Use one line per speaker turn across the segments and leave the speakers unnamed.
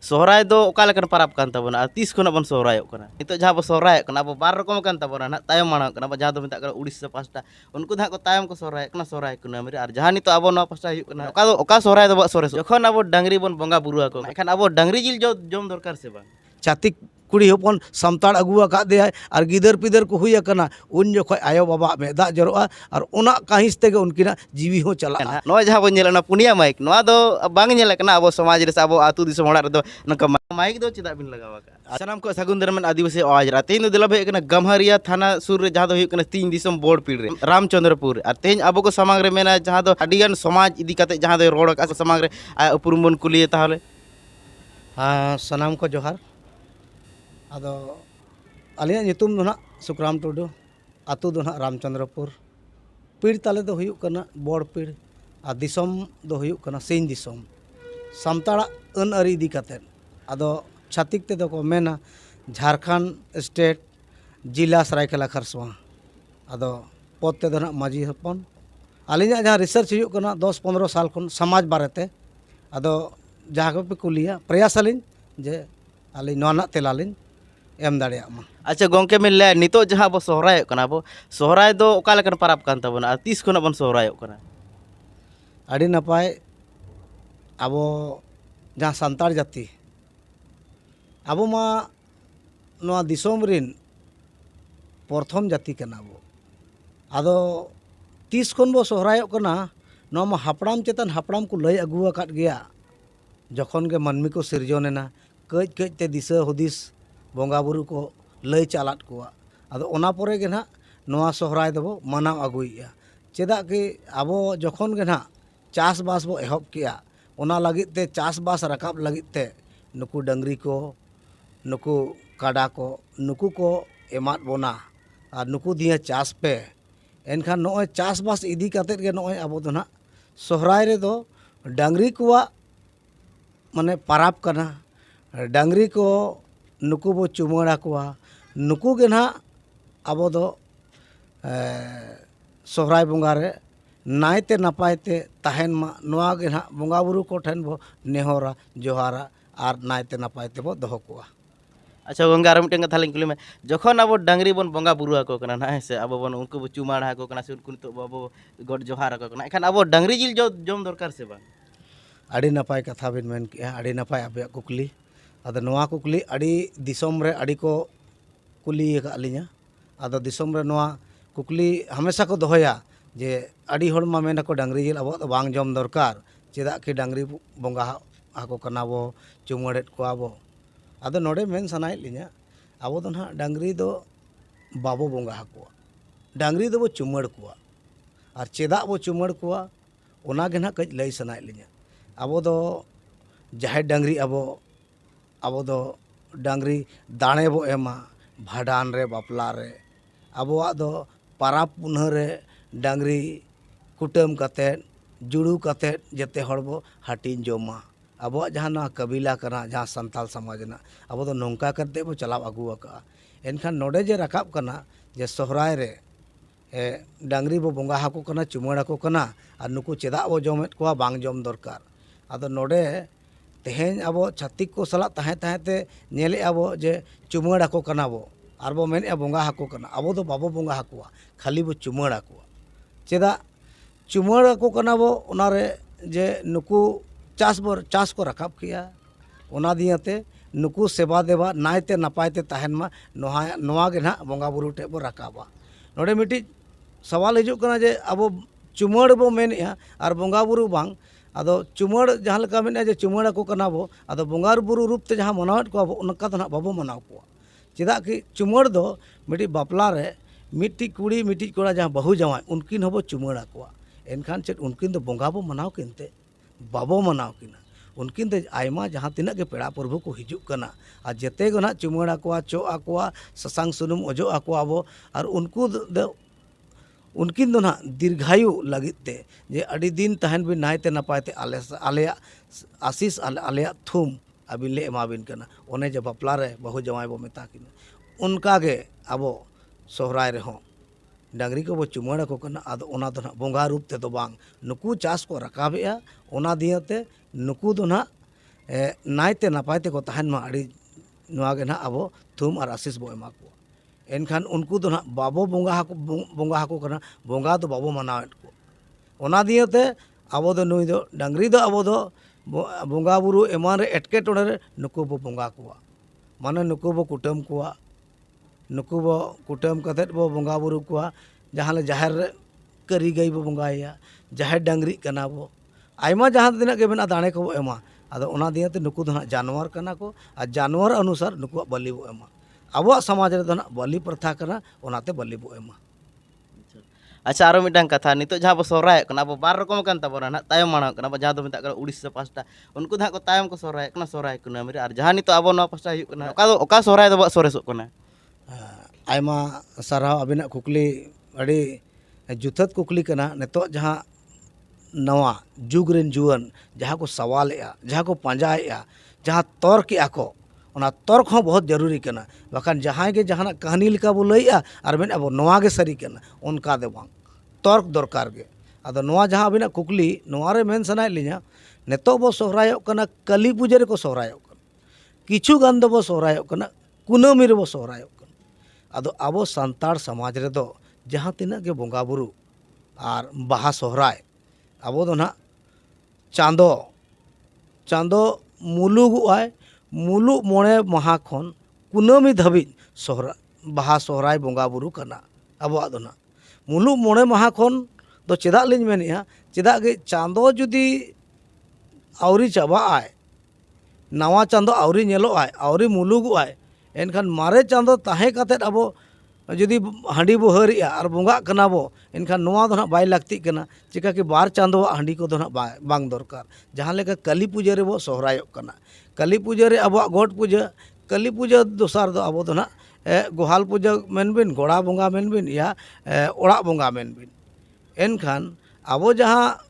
ᱥᱚᱦᱨᱟᱭ ᱫᱚ ᱚᱠᱟ ᱞᱮᱠᱟᱱ ᱯᱟᱨᱟᱵᱽ ᱠᱟᱱ ᱛᱟᱵᱚᱱᱟ ᱟᱨ ᱛᱤᱥ ᱠᱷᱚᱱᱟᱜ ᱵᱚᱱ ᱥᱚᱦᱨᱟᱭᱚᱜ ᱠᱟᱱᱟ ᱱᱤᱛᱚᱜ ᱡᱟᱦᱟᱸ ᱵᱚ ᱥᱚᱦᱨᱟᱭᱚᱜ ᱠᱟᱱᱟ ᱟᱵᱚ ᱵᱟᱨ ᱨᱚᱠᱚᱢ ᱟᱠᱟᱱ ᱛᱟᱵᱚᱱᱟ ᱱᱟᱦᱟᱜ ᱛᱟᱭᱚᱢ ᱢᱟᱲᱟᱝ ᱠᱟᱱᱟ ᱵᱚ ᱡᱟᱦᱟᱸ ᱫᱚ ᱢᱮᱛᱟᱜ ᱠᱟᱱᱟ ᱩᱲᱤᱥᱥᱟ ᱯᱟᱥᱴᱟ ᱩᱱᱠᱩ ᱫᱚ ᱦᱟᱸᱜ ᱠᱚ ᱛᱟᱭᱚᱢ ᱠᱚ ᱥᱚᱦᱨᱟᱭᱚᱜ ᱠᱟᱱᱟ ᱥᱚᱦᱨᱟᱭ ᱠᱩᱱᱟᱹᱢᱤ ᱨᱮ ᱟᱨ ᱡᱟᱦᱟᱸ ᱱᱤᱛᱚᱜ ᱟᱵᱚ ᱱᱚᱣᱟ ᱯᱟᱥᱴᱟ ᱦᱩᱭᱩᱜ ᱠᱟᱱᱟ ᱚᱠᱟ ᱫᱚ ᱚᱠᱟ ᱥᱚᱦᱨᱟᱭ ᱫᱚ ᱟᱵᱚᱣᱟᱜ ᱥᱚᱨᱮᱥ ᱡᱚᱠᱷᱚᱱ ᱟᱵᱚ ᱰᱟᱹᱝᱨᱤ ᱵᱚᱱ ᱵᱚᱸᱜᱟ ᱵᱩᱨᱩ ᱟᱠᱚ ᱠᱟᱱᱟ ᱮᱱᱠᱷᱟᱱ ᱟᱵᱚ ᱰᱟᱹᱝᱨᱤ ᱡᱤᱞ ᱡᱚᱢ ᱫᱚᱨᱠᱟᱨ ᱥᱮ ᱵᱟᱝ ᱪᱷᱟᱛᱤᱠ ᱠᱩᱲᱤ ᱦᱚᱯᱚᱱ ᱥᱟᱱᱛᱟᱲ ᱟᱹᱜᱩ ᱟᱠᱟᱫᱮᱭᱟᱭ ᱟᱨ ᱜᱤᱫᱟᱹᱨ ᱯᱤᱫᱟᱹᱨ ᱠᱚ ᱦᱩᱭ ᱟᱠᱟᱱᱟ ᱩᱱ ᱡᱚᱠᱷᱚᱱ ᱟᱭᱳ ᱵᱟᱵᱟ ᱟᱜ ᱢᱮᱫ ᱫᱟᱜ ᱡᱚᱨᱚᱜᱼᱟ ᱟᱨ ᱚᱱᱟ ᱠᱟᱹᱦᱤᱥ ᱛᱮᱜᱮ ᱩᱱᱠᱤᱱᱟᱜ ᱡᱤᱣᱤ ᱦᱚᱸ ᱪᱟᱞᱟᱜᱼᱟ ᱱᱚᱜᱼᱚᱭ ᱡᱟᱦᱟᱸ ᱵᱚᱱ ᱧᱮᱞᱮᱫ ᱚᱱᱟ ᱯᱩᱱᱭᱟ ᱢᱟᱭᱤᱠ ᱱᱚᱣᱟ ᱫᱚ ᱵᱟᱝ ᱧᱮᱞ ᱟᱠᱟᱱᱟ ᱟᱵᱚ ᱥᱚᱢᱟᱡᱽ ᱨᱮ ᱥᱮ ᱟᱵᱚ ᱟᱹᱛᱩ ᱫᱤᱥᱚᱢ ᱚᱲᱟᱜ ᱨᱮᱫᱚ ᱱᱚᱝᱠᱟ ᱢᱟᱭᱤᱠ ᱫᱚ ᱪᱮᱫᱟᱜ ᱵᱤᱱ ᱞᱟᱜᱟᱣ ᱟᱠᱟᱫᱼᱟ ᱥᱟᱱᱟᱢ ᱠᱚ ᱥᱟᱹᱜᱩᱱ ᱫᱟᱨᱟᱢ ᱟᱹᱫᱤᱵᱟᱹᱥᱤ ᱟᱣᱟᱡᱽ ᱨᱮ ᱛᱮᱦᱮᱧ ᱫᱚ ᱫᱮᱞᱟᱵᱚ ᱦᱮᱡ ᱟᱠᱟᱱᱟ ᱜᱟᱢᱦᱟᱨᱤᱭᱟ ᱛᱷᱟᱱᱟ ᱥᱩᱨ ᱨᱮ ᱡᱟᱦᱟᱸ ᱫᱚ ᱦᱩᱭᱩᱜ ᱠᱟᱱᱟ ᱛᱤᱧ ᱫᱤᱥᱚᱢ ᱵᱳᱲ ᱯᱤᱲ ᱨᱮ ᱨᱟᱢ ᱪᱚᱱᱫᱨᱚᱯᱩᱨ ᱟᱨ ᱛᱮᱦᱮᱧ ᱟᱵᱚ ᱠᱚ ᱥᱟᱢᱟᱝ ᱨᱮ ᱢᱮᱱᱟᱭᱟ ᱡᱟᱦᱟᱸ ᱫᱚ ᱟᱹᱰᱤ ᱜᱟᱱ ᱥᱚᱢᱟᱡᱽ ᱤᱫᱤ ᱠᱟᱛᱮᱫ ᱡᱟᱦᱟᱸ ᱫᱚᱭ ᱨᱚᱲ ᱟᱠᱟᱫᱼᱟ ᱥᱟᱢᱟᱝ ᱨᱮ ᱟᱭᱟᱜ ᱩᱯᱨᱩᱢ ᱵᱚᱱ ᱠᱩᱞᱤᱭᱮᱭᱟ ᱛᱟᱦᱚᱞᱮ ᱦᱮᱸ ᱥᱟᱱᱟᱢ ᱠᱚ ᱡᱚᱦᱟᱨ ᱟᱫᱚ ᱟᱹᱞᱤᱧᱟᱜ ᱧᱩᱛᱩᱢ ᱫᱚ ᱱᱟᱜ ᱥᱩᱠᱨᱟᱢ ᱴᱩᱰᱩ ᱟᱛᱳ ᱫᱚ ᱱᱟᱜ ᱨᱟᱢᱪᱚᱱᱫᱨᱚᱯᱩᱨ ᱯᱤᱲ ᱛᱟᱞᱮ ᱫᱚ ᱦᱩᱭᱩᱜ ᱠᱟᱱᱟ ᱵᱚᱲ ᱯᱤᱲ ᱟᱨ ᱫᱤᱥᱚᱢ ᱫᱚ ᱦᱩᱭᱩᱜ ᱠᱟᱱᱟ ᱥᱤᱧ ᱫᱤᱥᱚᱢ ᱥᱟᱱᱛᱟᱲᱟᱜ ᱟᱹᱱ ᱟᱹᱨᱤ ᱤᱫᱤ ᱠᱟᱛᱮ ᱟᱫᱚ ᱪᱷᱟᱹᱛᱤᱠ ᱛᱮᱫᱚ ᱠᱚ ᱢᱮᱱᱟ ᱡᱷᱟᱲᱠᱷᱚᱸᱰ ᱥᱴᱮᱴ ᱡᱮᱞᱟ ᱥᱚᱨᱟᱭᱠᱮᱞᱞᱟ ᱠᱷᱟᱨᱥᱚᱶᱟ ᱟᱫᱚ ᱯᱚᱫᱽ ᱛᱮᱫᱚ ᱱᱟᱜ ᱢᱟᱹᱡᱷᱤ ᱦᱚᱯᱚᱱ ᱟᱹᱞᱤᱧᱟᱜ ᱡᱟᱦᱟᱸ ᱨᱤᱥᱟᱨᱪ ᱦᱩᱭᱩᱜ ᱠᱟᱱᱟ ᱫᱚᱥ ᱯᱚᱱᱨᱚ ᱥᱟᱞ ᱠᱷᱚᱱ ᱥᱚᱢᱟᱡᱽ ᱵᱟᱨᱮᱛᱮ ᱟᱫᱚ ᱡᱟᱦᱟᱸ ᱠᱚᱯᱮ ᱠᱩᱞᱤᱧᱟ ᱯᱨᱚᱭᱟᱥ ᱟᱹᱞᱤᱧ ᱡᱮ ᱟᱹᱞᱤᱧ ᱱᱚᱣᱟ ᱨᱮᱱᱟᱜ ᱛᱮᱞᱟ ᱞᱤᱧ ᱮᱢ ᱫᱟᱲᱮᱭᱟᱜ ᱢᱟ ᱟᱪᱪᱷᱟ ᱜᱚᱢᱠᱮ ᱵᱮᱱ ᱞᱟᱹᱭᱟ ᱱᱤᱛᱚᱜ ᱡᱟᱦᱟᱸ ᱟᱵᱚ ᱥᱚᱦᱨᱟᱭᱚᱜ ᱠᱟᱱᱟ ᱵᱚ ᱥᱚᱦᱨᱟᱭ ᱫᱚ ᱚᱠᱟ ᱞᱮᱠᱟᱱ ᱯᱚᱨᱚᱵᱽ ᱠᱟᱱ ᱛᱟᱵᱚᱱᱟ ᱟᱨ ᱛᱤᱥ ᱠᱷᱚᱱᱟᱜ ᱵᱚᱱ ᱥᱚᱦᱨᱟᱭᱚᱜ ᱠᱟᱱᱟ ᱟᱹᱰᱤ ᱱᱟᱯᱟᱭ ᱟᱵᱚ ᱡᱟᱦᱟᱸ ᱥᱟᱱᱛᱟᱲ ᱡᱟᱹᱛᱤ ᱟᱵᱚ ᱢᱟ ᱱᱚᱣᱟ ᱫᱤᱥᱚᱢ ᱨᱮᱱ ᱯᱨᱚᱛᱷᱚᱢ ᱡᱟᱹᱛᱤ ᱠᱟᱱᱟ ᱵᱚᱱ ᱟᱫᱚ ᱛᱤᱥ ᱠᱷᱚᱱ ᱵᱚᱱ ᱥᱚᱦᱨᱟᱭᱚᱜ ᱠᱟᱱᱟ ᱱᱚᱣᱟ ᱢᱟ ᱦᱟᱯᱲᱟᱢ ᱪᱮᱛᱟᱱ ᱦᱟᱯᱲᱟᱢ ᱠᱚ ᱞᱟᱹᱭ ᱟᱹᱜᱩ ᱟᱠᱟᱫ ᱜᱮᱭᱟ ᱡᱚᱠᱷᱚᱱ ᱜᱮ ᱢᱟᱹᱱᱢᱤ ᱠᱚ ᱥᱤᱨᱡᱚᱱ ᱮᱱᱟ ᱠᱟᱹᱡ ᱠᱟᱹᱡ ᱛᱮ ᱫᱤᱥᱟᱹ ᱦᱩᱫᱤᱥ ᱵᱚᱸᱜᱟ ᱵᱩᱨᱩ ᱠᱚ ᱞᱟᱹᱭ ᱪᱟᱞ ᱟᱫ ᱠᱚᱣᱟ ᱟᱫᱚ ᱚᱱᱟ ᱯᱚᱨᱮ ᱜᱮ ᱦᱟᱸᱜ ᱱᱚᱣᱟ ᱥᱚᱦᱨᱟᱭ ᱫᱚᱵᱚᱱ ᱢᱟᱱᱟᱣ ᱟᱹᱜᱩᱭᱮᱫᱼᱟ ᱪᱮᱫᱟᱜ ᱠᱤ ᱟᱵᱚ ᱡᱚᱠᱷᱚᱱ ᱜᱮ ᱦᱟᱸᱜ ᱪᱟᱥᱵᱟᱥ ᱵᱚ ᱮᱦᱚᱵ ᱠᱮᱜᱼᱟ ᱚᱱᱟ ᱞᱟᱹᱜᱤᱫ ᱛᱮ ᱪᱟᱥᱵᱟᱥ ᱨᱟᱠᱟᱵ ᱞᱟᱹᱜᱤᱫ ᱛᱮ ᱱᱩᱠᱩ ᱰᱟᱹᱝᱨᱤ ᱠᱚ ᱱᱩᱠᱩ ᱠᱟᱰᱟ ᱠᱚ ᱱᱩᱠᱩ ᱠᱚ ᱮᱢᱟᱜ ᱵᱚᱱᱟ ᱟᱨ ᱱᱩᱠᱩ ᱫᱤᱭᱮ ᱪᱟᱥ ᱯᱮ ᱮᱱᱠᱷᱟᱱ ᱱᱚᱜᱼᱚᱭ ᱪᱟᱥᱵᱟᱥ ᱤᱫᱤ ᱠᱟᱛᱮᱜ ᱜᱮ ᱱᱚᱜᱼᱚᱭ ᱟᱵᱚ ᱫᱚ ᱱᱟᱜ ᱥᱚᱦᱨᱟᱭ ᱨᱮᱫᱚ ᱰᱟᱹᱝᱨᱤ ᱠᱚᱣᱟᱜ ᱢᱟᱱᱮ ᱯᱟᱨᱟᱵᱽ ᱠᱟᱱᱟ ᱰᱟᱝᱨᱤ ᱠᱚ ᱱᱩᱠᱩ ᱵᱚ ᱪᱩᱢᱟᱹᱲᱟ ᱠᱚᱣᱟ ᱱᱩᱠᱩ ᱜᱮ ᱱᱟᱜ ᱟᱵᱚ ᱫᱚ ᱥᱚᱦᱨᱟᱭ ᱵᱚᱸᱜᱟ ᱨᱮ ᱱᱟᱭᱛᱮ ᱱᱟᱯᱟᱭ ᱛᱮ ᱛᱟᱦᱮᱱ ᱢᱟ ᱱᱚᱣᱟ ᱜᱮ ᱱᱟᱜ ᱵᱚᱸᱜᱟ ᱵᱳᱨᱳ ᱠᱚᱴᱷᱮᱱ ᱵᱚ ᱱᱮᱦᱚᱨᱟ ᱡᱚᱦᱟᱨᱟ ᱟᱨ ᱱᱟᱭᱛᱮ ᱱᱟᱯᱟᱭ ᱛᱮᱵᱚ ᱫᱚᱦᱚ ᱠᱚᱣᱟ ᱟᱪᱪᱷᱟ ᱜᱚᱝᱠᱮ ᱟᱨ ᱢᱤᱫᱴᱮᱱ ᱠᱟᱛᱷᱟ ᱞᱤᱧ ᱠᱩᱞᱤ ᱢᱮ ᱡᱚᱠᱷᱚᱱ ᱟᱵᱚ ᱰᱟᱝᱨᱤ ᱵᱚᱱ ᱵᱚᱸᱜᱟ ᱵᱩᱨᱩ ᱟᱠᱚ ᱠᱟᱱᱟ ᱱᱟᱦᱟᱜ ᱦᱮᱸ ᱥᱮ ᱟᱵᱚ ᱵᱚᱱ ᱩᱱᱠᱩ ᱵᱚ ᱪᱩᱢᱟᱲᱟ ᱟᱠᱚ ᱠᱟᱱᱟ ᱥᱮ ᱩᱱᱠᱩ ᱱᱤᱛᱚᱜ ᱟᱵᱚ ᱜᱚᱰ ᱡᱚᱦᱟᱨ ᱟᱠᱚ ᱠᱟᱱᱟ ᱮᱱᱠᱷᱟᱱ ᱟᱵᱚ ᱰᱟᱝᱨᱤ ᱡᱤᱞ ᱡᱚᱢ ᱫᱚᱨᱠᱟᱨ ᱥᱮ ᱵᱟᱝ ᱟᱹᱰᱤ ᱱᱟᱯᱟᱭ ᱠᱟᱛᱷᱟ ᱵᱤᱱ ᱢᱮᱱ ᱠᱮᱜᱼᱟ ᱟᱹᱰᱤ ᱱᱟᱯᱟᱭ ᱟᱯᱮᱭᱟᱜ ᱠᱩᱠᱞᱤ ᱟᱫᱚ ᱱᱚᱣᱟ ᱠᱩᱠᱞᱤ ᱟᱹᱰᱤ ᱫᱤᱥᱚᱢ ᱨᱮ ᱟᱹᱰᱤ ᱠᱚ ᱠᱩᱞᱤ ᱟᱠᱟᱫ ᱞᱤᱧᱟ ᱟᱫᱚ ᱫᱤᱥᱚᱢ ᱨᱮ ᱱᱚᱣᱟ ᱠᱩᱠᱞᱤ ᱦᱟᱢᱮᱥᱟ ᱠᱚ ᱫᱚᱦᱚᱭᱟ ᱡᱮ ᱟᱹᱰᱤ ᱦᱚᱲ ᱢᱟ ᱢᱮᱱ ᱟᱠᱚ ᱰᱟᱝᱨᱤ ᱡᱤᱞ ᱟᱵᱚᱣᱟᱜ ᱫᱚ ᱵᱟᱝ ᱡᱚᱢ ᱫᱚᱨᱠᱟᱨ ᱪᱮᱫᱟᱜ ᱠᱤ ᱰᱟᱝᱨᱤ ᱵᱚᱸᱜᱟ ᱟᱠᱚ ᱠᱟᱱᱟ ᱵᱚ ᱪᱩᱢᱟᱹᱲᱮᱫ ᱠᱚᱣᱟ ᱵᱚ ᱟᱫᱚ ᱱᱚᱰᱮ ᱢᱮᱱ ᱥᱟᱱᱟᱭᱮᱫ ᱞᱤᱧᱟᱹ ᱟᱵᱚ ᱫᱚ ᱱᱟᱦᱟᱜ ᱰᱟᱝᱨᱤ ᱫᱚ ᱵᱟᱵᱚ ᱵᱚᱸᱜᱟ ᱟᱠᱚᱣᱟ ᱰᱟᱝᱨᱤ ᱫᱚᱵᱚ ᱪᱩᱢᱟᱹᱲ ᱠᱚᱣᱟ ᱟᱨ ᱪᱮᱫᱟᱜ ᱵᱚ ᱪᱩᱢᱟᱹᱲ ᱠᱚᱣᱟ ᱚᱱᱟ ᱜᱮ ᱱᱟᱦᱟᱜ ᱠᱟᱹᱡ ᱞᱟᱹᱭ ᱥᱟᱱᱟᱭᱮᱫ ᱞᱤᱧᱟᱹ ᱟᱵᱚ ᱫᱚ ᱡᱟᱦᱮᱨ ᱰᱟᱝᱨᱤ ᱟᱵᱚ ᱟᱵᱚ ᱫᱚ ᱰᱟᱝᱨᱤ ᱫᱟᱲᱮ ᱵᱚ ᱮᱢᱟ ᱵᱷᱟᱸᱰᱟᱱ ᱨᱮ ᱵᱟᱯᱞᱟ ᱨᱮ ᱟᱵᱚᱣᱟᱜ ᱫᱚ ᱯᱟᱨᱟᱵᱽ ᱯᱩᱱᱟᱹ ᱨᱮ ᱰᱟᱝᱨᱤ ᱠᱩᱴᱟᱹᱢ ᱠᱟᱛᱮᱫ ᱡᱩᱲᱩ ᱠᱟᱛᱮᱫ ᱡᱮᱛᱮ ᱦᱚᱲ ᱵᱚ ᱦᱟᱹᱴᱤᱧ ᱡᱚᱢᱟ ᱟᱵᱚᱣᱟᱜ ᱡᱟᱦᱟᱸ ᱱᱚᱣᱟ ᱠᱟᱹᱵᱤᱞᱟ ᱠᱟᱱᱟ ᱡᱟᱦᱟᱸ ᱥᱟᱱᱛᱟᱲ ᱥᱚᱢᱟᱡᱽ ᱨᱮᱱᱟᱜ ᱟᱵᱚ ᱫᱚ ᱱᱚᱝᱠᱟ ᱠᱟᱛᱮᱫ ᱵᱚᱱ ᱪᱟᱞᱟᱣ ᱟᱹᱜᱩ ᱟᱠᱟᱫᱼᱟ ᱮᱱᱠᱷᱟᱱ ᱱᱚᱰᱮ ᱡᱮ ᱨᱟᱠᱟᱵ ᱠᱟᱱᱟ ᱡᱮ ᱥᱚᱦᱨᱟᱭ ᱨᱮ ᱰᱟᱝᱨᱤ ᱵᱚᱱ ᱵᱚᱸᱜᱟ ᱟᱠᱚ ᱠᱟᱱᱟ ᱪᱩᱢᱟᱹᱲ ᱟᱠᱚ ᱠᱟᱱᱟ ᱟᱨ ᱱᱩᱠᱩ ᱪᱮᱫᱟᱜ ᱵᱚᱱ ᱡᱚᱢᱮᱫ ᱠᱚᱣᱟ ᱵᱟᱝ ᱡᱚᱢ ᱫᱚᱨᱠᱟᱨ ᱟᱫᱚ ᱱᱚᱰᱮ ᱛᱮᱦᱮᱧ ᱟᱵᱚ ᱪᱷᱟᱹᱛᱤᱠ ᱠᱚ ᱥᱟᱞᱟᱜ ᱛᱟᱦᱮᱸ ᱛᱟᱦᱮᱸ ᱛᱮ ᱧᱮᱞᱮᱫ ᱟᱵᱚᱱ ᱡᱮ ᱪᱩᱢᱟᱹᱲ ᱟᱠᱚ ᱠᱟᱱᱟ ᱵᱚᱱ ᱟᱨ ᱵᱚᱱ ᱢᱮᱱᱮᱫᱼᱟ ᱵᱚᱸᱜᱟ ᱟᱠᱚ ᱠᱟᱱᱟ ᱟᱵᱚ ᱫᱚ ᱵᱟᱵᱚᱱ ᱵᱚᱸᱜᱟ ᱟᱠᱚᱣᱟ ᱠᱷᱟᱹᱞᱤ ᱵᱚᱱ ᱪᱩᱢᱟᱹᱲ ᱟᱠᱚᱣᱟ ᱪᱮᱫᱟᱜ ᱪᱩᱢᱟᱹᱲ ᱟᱠᱚ ᱠᱟᱱᱟ ᱵᱚ ᱚᱱᱟ ᱨᱮ ᱡᱮ ᱱᱩᱠᱩ ᱪᱟᱥ ᱵᱚ ᱪᱟᱥ ᱠᱚ ᱨᱟᱠᱟᱵ ᱠᱮᱜᱼᱟ ᱚᱱᱟ ᱫᱤᱭᱮ ᱛᱮ ᱱᱩᱠᱩ ᱥᱮᱵᱟ ᱫᱮᱵᱟ ᱱᱟᱭ ᱛᱮ ᱱᱟᱯᱟᱭ ᱛᱮ ᱛᱟᱦᱮᱱ ᱢᱟ ᱱᱚᱣᱟ ᱱᱚᱣᱟ ᱜᱮ ᱦᱟᱸᱜ ᱵᱚᱸᱜᱟ ᱵᱳᱨᱳ ᱴᱷᱮᱱ ᱵᱚᱱ ᱨᱟᱠᱟᱵᱟ ᱱᱚᱰᱮ ᱢᱤᱫᱴᱤᱡ ᱥᱟᱶᱟᱞ ᱦᱤᱡᱩᱜ ᱠᱟᱱᱟ ᱡᱮ ᱟᱵᱚ ᱪᱩᱢᱟᱹᱲ ᱵᱚ ᱢᱮᱱᱮᱜᱼᱟ ᱟᱨ ᱵᱚᱸᱜᱟ ᱵᱳᱨᱳ ᱵᱟᱝ ᱟᱫᱚ ᱪᱩᱢᱟᱹᱲ ᱡᱟᱦᱟᱸ ᱞᱮᱠᱟ ᱢᱮᱱᱟᱜᱼᱟ ᱪᱩᱢᱟᱹᱲ ᱟᱠᱚ ᱠᱟᱱᱟ ᱵᱚ ᱟᱫᱚ ᱵᱚᱸᱜᱟ ᱵᱳᱨᱳ ᱨᱩᱯ ᱛᱮ ᱡᱟᱦᱟᱸ ᱢᱟᱱᱟᱣᱮᱜ ᱠᱚᱣᱟ ᱵᱚ ᱚᱱᱠᱟ ᱫᱚ ᱦᱟᱸᱜ ᱵᱟᱵᱚ ᱢᱟᱱᱟᱣ ᱠᱚᱣᱟ ᱪᱮᱫᱟᱜ ᱠᱤ ᱪᱩᱢᱟᱹᱲ ᱫᱚ ᱢᱤᱫᱴᱤᱡ ᱵᱟᱯᱞᱟ ᱨᱮ ᱢᱤᱫᱴᱤᱡ ᱠᱩᱲᱤ ᱢᱤᱫᱴᱤᱡ ᱠᱚᱲᱟ ᱡᱟᱦᱟᱸ ᱵᱟᱹᱦᱩ ᱡᱟᱶᱟᱭ ᱩᱱᱠᱤᱱ ᱦᱚᱸᱵᱚ ᱪᱩᱢᱟᱹᱲ ᱟᱠᱚᱣᱟ ᱮᱱᱠᱷᱟᱱ ᱪᱮᱫ ᱩᱱᱠᱤᱱ ᱫᱚ ᱵᱚᱸᱜᱟ ᱵᱚ ᱢᱟᱱᱟᱣ ᱠᱤᱱ ᱛᱮ ᱵᱟᱵᱚ ᱢᱟᱱᱟᱣ ᱠᱤᱱᱟ ᱩᱱᱠᱤᱱ ᱫᱚ ᱟᱭᱢᱟ ᱡᱟᱦᱟᱸ ᱛᱤᱱᱟᱹᱜ ᱜᱮ ᱯᱮᱲᱟ ᱯᱨᱚᱵᱷᱩ ᱠᱚ ᱦᱤᱡᱩᱜ ᱠᱟᱱᱟ ᱟᱨ ᱡᱮᱛᱮ ᱜᱮ ᱱᱟᱦᱟᱜ ᱪᱩᱢᱟᱹᱲ ᱟᱠᱚᱣᱟ ᱪᱚᱜ ᱟᱠᱚᱣᱟ ᱥᱟᱥᱟᱝ ᱥᱩᱱᱩᱢ ᱚᱡᱚᱜ ᱟᱠᱚᱣᱟ ᱵᱚ ᱟᱨ ᱩᱱᱠᱩ ᱫᱚ ᱩᱱᱠᱤᱱ ᱫᱚ ᱱᱟᱦᱟᱜ ᱫᱤᱨᱜᱷᱟᱭᱩ ᱞᱟᱹᱜᱤᱫ ᱛᱮ ᱡᱮ ᱟᱹᱰᱤ ᱫᱤᱱ ᱛᱟᱦᱮᱱ ᱵᱤᱱ ᱱᱟᱭᱛᱮ ᱱᱟᱯᱟᱭ ᱛᱮ ᱟᱞᱮ ᱟᱞᱮᱭᱟᱜ ᱟᱥᱤᱥ ᱟᱞᱮᱭᱟᱜ ᱛᱷᱩᱢ ᱟᱹᱵᱤᱱ ᱞᱮ ᱮᱢᱟᱵᱤᱱ ᱠᱟᱱᱟ ᱚᱱᱮ ᱡᱮ ᱵᱟᱯᱞᱟ ᱨᱮ ᱵᱟᱹᱦᱩ ᱡᱟᱶᱟᱭ ᱵᱚ ᱢᱮᱛᱟ ᱠᱤᱱᱟ ᱚᱱᱠᱟ ᱜᱮ ᱟᱵᱚ ᱥᱚᱦᱨᱟᱭ ᱨᱮᱦᱚᱸ ᱰᱟᱝᱨᱤ ᱠᱚᱵᱚ ᱪᱩᱢᱟᱹᱲᱟ ᱠᱚ ᱠᱟᱱᱟ ᱟᱫᱚ ᱚᱱᱟ ᱫᱚ ᱱᱟᱜ ᱵᱚᱸᱜᱟ ᱨᱩᱯ ᱛᱮᱫᱚ ᱵᱟᱝ ᱱᱩᱠᱩ ᱪᱟᱥ ᱠᱚ ᱨᱟᱠᱟᱵᱮᱜᱼᱟ ᱚᱱᱟ ᱫᱤᱭᱮᱛᱮ ᱱᱩᱠᱩ ᱫᱚ ᱱᱟᱜ ᱱᱟᱭᱛᱮ ᱱᱟᱯᱟᱭ ᱛᱮᱠᱚ ᱛᱟᱦᱮᱱ ᱢᱟ ᱟᱹᱰᱤ ᱱᱚᱣᱟ ᱜᱮ ᱱᱟᱜ ᱟᱵᱚ ᱛᱷᱩᱢ ᱟᱨ ᱟᱥᱤᱥ ᱵᱚ ᱮᱢᱟ ᱠᱚᱣᱟ ᱮᱱᱠᱷᱟᱱ ᱩᱱᱠᱩ ᱫᱚ ᱱᱟᱜ ᱵᱟᱵᱚ ᱵᱚᱸᱜᱟ ᱟᱠᱚ ᱵᱚᱸᱜᱟ ᱟᱠᱚ ᱠᱟᱱᱟ ᱵᱚᱸᱜᱟ ᱫᱚ ᱵᱟᱵᱚ ᱢᱟᱱᱟᱣᱮᱫ ᱠᱚᱣᱟ ᱚᱱᱟ ᱫᱤᱭᱮᱛᱮ ᱟᱵᱚ ᱫᱚ ᱱᱩᱭ ᱫᱚ ᱰᱟᱹᱝᱨᱤ ᱫᱚ ᱟᱵᱚ ᱫᱚ ᱵᱚᱸᱜᱟ ᱵᱩᱨᱩ ᱮᱢᱟᱱ ᱨᱮ ᱮᱴᱠᱮᱴᱚᱬᱮ ᱨᱮ ᱱᱩᱠᱩ ᱵᱚ ᱵᱚᱸᱜᱟ ᱠᱚᱣᱟ ᱢᱟᱱᱮ ᱱᱩᱠᱩ ᱵᱚ ᱠᱩᱴᱟᱹᱢ ᱠᱚᱣᱟ ᱱᱩᱠᱩ ᱵᱚ ᱠᱩᱴᱟᱹᱢ ᱠᱟᱛᱮ ᱵᱚ ᱵᱚᱸᱜᱟ ᱵᱩᱨᱩ ᱠᱚᱣᱟ ᱡᱟᱦᱟᱸ ᱞᱮ ᱡᱟᱦᱮᱨ ᱨᱮ ᱠᱟᱹᱨᱤ ᱜᱟᱹᱭ ᱵᱚ ᱵᱚᱸᱜᱟᱭᱮᱭᱟ ᱡᱟᱦᱮᱨ ᱰᱟᱹᱝᱨᱤ ᱠᱟᱱᱟ ᱵᱚ ᱟᱭᱢᱟ ᱡᱟᱦᱟᱸ ᱛᱤᱱᱟᱹᱜ ᱜᱮ ᱢᱮᱱᱟᱜᱼᱟ ᱫᱟᱲᱮ ᱠᱚᱵᱚ ᱮᱢᱟ ᱟᱫᱚ ᱚᱱᱟ ᱫᱤᱭᱮ ᱛᱮ ᱱᱩᱠᱩ ᱫᱚ ᱦᱟᱸᱜ ᱡᱟᱱᱣᱟᱨ ᱠᱟᱱᱟ ᱠᱚ ᱟᱨ ᱡᱟᱱᱣᱟᱨ ᱚᱱᱩᱥᱟᱨ ᱱᱩᱠᱩᱣᱟᱜ ᱵᱟᱹᱞᱤ ᱵᱚ ᱮᱢᱟ ᱟᱵᱚᱣᱟᱜ ᱥᱚᱢᱟᱡᱽ ᱨᱮᱫᱚ ᱦᱟᱸᱜ ᱵᱟᱹᱞᱤ ᱯᱨᱚᱛᱷᱟ ᱠᱟᱱᱟ ᱚᱱᱟᱛᱮ ᱵᱟᱹᱞᱤ ᱵᱚ ᱮᱢᱟ ᱟᱪᱪᱷᱟ ᱟᱨᱚ ᱢᱤᱫᱴᱟᱝ ᱠᱟᱛᱷᱟ ᱱᱤᱛᱚᱜ ᱡᱟᱦᱟᱸ ᱵᱚ ᱥᱚᱦᱨᱟᱭᱚᱜ ᱠᱟᱱᱟ ᱟᱵᱚ ᱵᱟᱨ ᱨᱚᱠᱚᱢ ᱠᱟᱱ ᱛᱟᱵᱚᱱᱟ ᱱᱟᱦᱟᱜ ᱛᱟᱭᱚᱢ ᱢᱟᱲᱟᱝ ᱠᱟᱱᱟ ᱵᱚ ᱡᱟᱦᱟᱸ ᱫᱚ ᱢᱮᱛᱟᱜ ᱠᱟᱱᱟ ᱩᱲᱤᱥᱥᱟ ᱯᱟᱥᱴᱟ ᱩᱱᱠᱩ ᱫᱚ ᱦᱟᱸᱜ ᱠᱚ ᱛᱟᱭᱚᱢ ᱠᱚ ᱥᱚᱦᱨᱟᱭᱚᱜ ᱠᱟᱱᱟ ᱥᱚᱦᱨᱟᱭ ᱠᱩᱱᱟᱹᱢᱤ ᱨᱮ ᱟᱨ ᱡᱟᱦᱟᱸ ᱱᱤᱛᱚᱜ ᱟᱵᱚ ᱱᱚᱣᱟ ᱯᱟᱥᱴᱟ ᱦᱩᱭᱩᱜ ᱠᱟᱱᱟ ᱚᱠᱟ ᱫᱚ ᱚᱠᱟ ᱥᱚᱦᱨᱟᱭ ᱫᱚ ᱟᱵᱚᱣᱟᱜ ᱥᱚᱨᱮᱥᱚᱜ ᱠᱟᱱᱟ ᱟᱭᱢᱟ ᱥᱟᱨᱦᱟᱣ ᱟᱹᱵᱤᱱᱟᱜ ᱠᱩᱠᱞᱤ ᱟᱹᱰᱤ ᱡᱚᱛᱷᱟᱛ ᱠᱩᱠᱞᱤ ᱠᱟᱱᱟ ᱱᱤᱛᱚᱜ ᱡᱟᱦᱟᱸ ᱱᱟᱣᱟ ᱡᱩᱜᱽ ᱨᱮᱱ ᱡᱩᱣᱟᱹᱱ ᱡᱟᱦᱟᱸ ᱠᱚ ᱥᱟᱶᱟᱞ ᱮᱫᱼᱟ ᱡᱟᱦᱟᱸ ᱠᱚ ᱯᱟᱸᱡᱟᱭᱮᱫᱼᱟ ᱡᱟᱦᱟᱸ ᱛᱚᱨᱠ ᱮᱫᱼᱟ ᱠᱚ ᱚᱱᱟ ᱛᱚᱨᱠ ᱦᱚᱸ ᱵᱚᱦᱩᱛ ᱡᱟᱹᱨᱩᱨᱤ ᱠᱟᱱᱟ ᱵᱟᱠᱷᱟᱱ ᱡᱟᱦᱟᱸᱭ ᱜᱮ ᱡᱟᱦᱟᱱᱟᱜ ᱠᱟᱹᱦᱱᱤ ᱞᱮᱠᱟ ᱵᱚᱱ ᱞᱟᱹᱭᱮᱫᱼᱟ ᱟᱨ ᱢᱮᱱᱮᱫᱼᱟ ᱵᱚᱱ ᱱᱚᱣᱟ ᱜᱮ ᱥᱟᱹᱨᱤ ᱠᱟᱱᱟ ᱚᱱᱠᱟ ᱫᱚ ᱵᱟᱝ ᱛᱚᱨᱠ ᱫᱚᱨᱠᱟᱨ ᱜᱮ ᱟᱫᱚ ᱱᱚᱣᱟ ᱡᱟᱦᱟᱸ ᱟᱹᱵᱤᱱᱟᱜ ᱠᱩᱠᱞᱤ ᱱᱚᱣᱟ ᱨᱮ ᱢᱮᱱ ᱥᱟᱱᱟᱭᱮᱫ ᱞᱤᱧᱟᱹ ᱱᱤᱛᱚᱜ ᱵᱚᱱ ᱥᱚᱦᱨᱟᱭᱚᱜ ᱠᱟᱱᱟ ᱠᱟᱹᱞᱤ ᱯᱩᱡᱟᱹ ᱨᱮᱠᱚ ᱥᱚᱦᱨᱟᱭᱚᱜ ᱠᱟᱱᱟ ᱠᱤᱪᱷᱩ ᱜᱟᱱ ᱫᱚᱵᱚᱱ ᱥᱚᱦᱨᱟᱭᱚᱜ ᱠᱟᱱᱟ ᱠᱩᱱᱟᱹᱢᱤ ᱨᱮᱵᱚᱱ ᱥᱚᱦᱨᱟᱭᱚᱜ ᱠᱟᱱᱟ ᱟᱫᱚ ᱟᱵᱚ ᱥᱟᱱᱛᱟᱲ ᱥᱚᱢᱟᱡᱽ ᱨᱮᱫᱚ ᱡᱟᱦᱟᱸ ᱛᱤᱱᱟᱹᱜ ᱜᱮ ᱵᱚᱸᱜᱟᱼᱵᱩᱨᱩ ᱟᱨ ᱵᱟᱦᱟ ᱥᱚᱦᱨᱟᱭ ᱟᱵᱚ ᱫᱚ ᱱᱟᱜ ᱪᱟᱸᱫᱚ ᱪᱟᱸᱫᱚ ᱢᱩᱞᱩᱜᱚᱜ ᱟᱭ ᱢᱩᱞᱩᱜ ᱢᱚᱬᱮ ᱢᱟᱦᱟ ᱠᱷᱚᱱ ᱠᱩᱱᱟᱹᱢᱤ ᱫᱷᱟᱹᱵᱤᱡ ᱥᱚᱦᱨᱟᱭ ᱵᱟᱦᱟ ᱥᱚᱦᱨᱟᱭ ᱵᱚᱸᱜᱟ ᱵᱩᱨᱩ ᱠᱟᱱᱟ ᱟᱵᱚᱣᱟᱜ ᱫᱚ ᱱᱟᱜ ᱢᱩᱞᱩᱜ ᱢᱚᱬᱮ ᱢᱟᱦᱟ ᱠᱷᱚᱱ ᱫᱚ ᱪᱮᱫᱟᱜ ᱞᱤᱧ ᱢᱮᱱᱮᱜᱼᱟ ᱪᱮᱫᱟᱜ ᱜᱮ ᱪᱟᱸᱫᱚ ᱡᱩᱫᱤ ᱟᱹᱣᱨᱤ ᱪᱟᱵᱟᱜ ᱟᱭ ᱱᱟᱣᱟ ᱪᱟᱸᱫᱚ ᱟᱹᱣᱨᱤ ᱧᱮᱞᱚᱜ ᱟᱭ ᱟᱹᱣᱨᱤ ᱢᱩᱞᱩᱜᱚᱜ ᱟᱭ ᱮᱱᱠᱷᱟᱱ ᱢᱟᱨᱮ ᱪᱟᱸᱫᱚ ᱛᱟᱦᱮᱸ ᱠᱟᱛᱮ ᱟᱵᱚ ᱡᱩᱫᱤ ᱦᱟᱺᱰᱤ ᱵᱚ ᱦᱟᱹᱨᱮᱜᱼᱟ ᱟᱨ ᱵᱚᱸᱜᱟᱜ ᱠᱟᱱᱟ ᱵᱚ ᱮᱱᱠᱷᱟᱱ ᱱᱚᱣᱟ ᱫᱚ ᱦᱟᱸᱜ ᱵᱟᱭ ᱞᱟᱹᱠᱛᱤᱜ ᱠᱟᱱᱟ ᱪᱤᱠᱟᱹ ᱠᱤ ᱵᱟᱨ ᱪᱟᱸᱫᱚᱣᱟᱜ ᱦᱟᱺᱰᱤ ᱠᱚᱫᱚ ᱦᱟᱸᱜ ᱵᱟᱝ ᱫᱚᱨᱠᱟᱨ ᱡᱟᱦᱟᱸ ᱞᱮᱠᱟ ᱠᱟᱹᱞᱤ ᱯᱩᱡᱟᱹ ᱨᱮᱵᱚ ᱥᱚᱦᱨᱟᱭᱚᱜ ᱠᱟᱱᱟ ᱠᱟᱹᱞᱤ ᱯᱩᱡᱟᱹ ᱨᱮ ᱟᱵᱚᱣᱟᱜ ᱜᱚᱴ ᱯᱩᱡᱟᱹ ᱠᱟᱹᱞᱤ ᱯᱩᱡᱟᱹ ᱫᱚᱥᱟᱨ ᱫᱚ ᱟᱵᱚ ᱫᱚ ᱦᱟᱸᱜ ᱜᱳᱦᱟᱞ ᱯᱩᱡᱟᱹ ᱢᱮᱱ ᱵᱤᱱ ᱜᱚᱲᱟ ᱵᱚᱸᱜᱟ ᱢᱮᱱ ᱵᱤᱱ ᱭᱟ ᱚᱲᱟᱜ ᱵᱚᱸᱜᱟ ᱢᱮᱱ ᱵᱤᱱ ᱮᱱᱠᱷᱟᱱ ᱟᱵᱚ ᱡᱟᱦᱟᱸ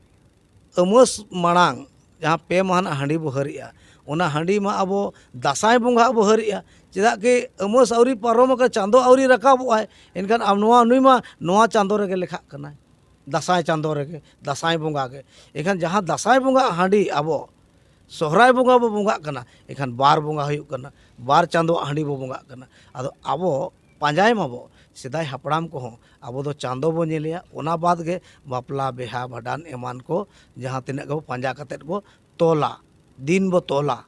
ᱩᱢᱟᱹᱥ ᱢᱟᱲᱟᱝ ᱡᱟᱦᱟᱸ ᱯᱮ ᱢᱟᱦᱟ ᱨᱮᱱᱟᱜ ᱦᱟᱺᱰᱤ ᱵᱚᱱ ᱦᱟᱹᱨᱮᱜᱼᱟ ᱚᱱᱟ ᱦᱟᱺᱰᱤ ᱢᱟ ᱟᱵᱚ ᱫᱟᱸᱥᱟᱭ ᱵᱚᱸᱜᱟ ᱵᱚᱱ ᱦᱟᱹᱨᱮᱜᱼᱟ ᱪᱮᱫᱟᱜ ᱠᱤ ᱩᱢᱟᱹᱥ ᱟᱹᱣᱨᱤ ᱯᱟᱨᱚᱢ ᱟᱠᱟᱱ ᱪᱟᱸᱫᱚ ᱟᱹᱣᱨᱤ ᱨᱟᱠᱟᱵᱚᱜ ᱟᱭ ᱮᱱᱠᱷᱟᱱ ᱱᱚᱣᱟ ᱱᱩᱭ ᱢᱟ ᱱᱚᱣᱟ ᱪᱟᱸᱫᱚ ᱨᱮᱜᱮ ᱞᱮᱠᱷᱟᱜ ᱠᱟᱱᱟᱭ ᱫᱟᱸᱥᱟᱭ ᱪᱟᱸᱫᱚ ᱨᱮᱜᱮ ᱫᱟᱸᱥᱟᱭ ᱵᱚᱸᱜᱟ ᱜᱮ ᱮᱱᱠᱷᱟᱱ ᱡᱟᱦᱟᱸ ᱫᱟᱸᱥᱟᱭ ᱵᱚᱸᱜᱟ ᱟᱜ ᱦᱟᱺᱰᱤ ᱟᱵᱚ ᱥᱚᱦᱨᱟᱭ ᱵᱚᱸᱜᱟ ᱵᱚᱱ ᱵᱚᱸᱜᱟᱜ ᱠᱟᱱᱟ ᱮᱱᱠᱷᱟᱱ ᱵᱟᱨ ᱵᱚᱸᱜᱟ ᱦᱩᱭᱩᱜ ᱠᱟᱱᱟ ᱵᱟᱨ ᱪᱟᱸᱫᱚ ᱟᱜ ᱦᱟᱺᱰᱤ ᱵᱚᱱ ᱵᱚᱸᱜᱟᱜ ᱠᱟᱱᱟ ᱟᱫᱚ ᱟᱵᱚ ᱯᱟᱸᱡᱟᱭ ᱢᱟᱵᱚ ᱥᱮᱫᱟᱭ ᱦᱟᱯᱲᱟᱢ ᱠᱚᱦᱚᱸ ᱟᱵᱚ ᱫᱚ ᱪᱟᱸᱫᱚ ᱵᱚ ᱧᱮᱞᱮᱭᱟ ᱚᱱᱟ ᱵᱟᱫᱽ ᱜᱮ ᱵᱟᱯᱞᱟ ᱵᱤᱦᱟᱹ ᱵᱷᱟᱸᱰᱟᱱ ᱮᱢᱟᱱ ᱠᱚ ᱡᱟᱦᱟᱸ ᱛᱤᱱᱟᱹᱜ ᱜᱮᱵᱚ ᱯᱟᱸᱡᱟ ᱠᱟᱛᱮ ᱵᱚ ᱛᱚᱞᱟ ᱫᱤᱱ ᱵᱚ ᱛᱚᱞᱟ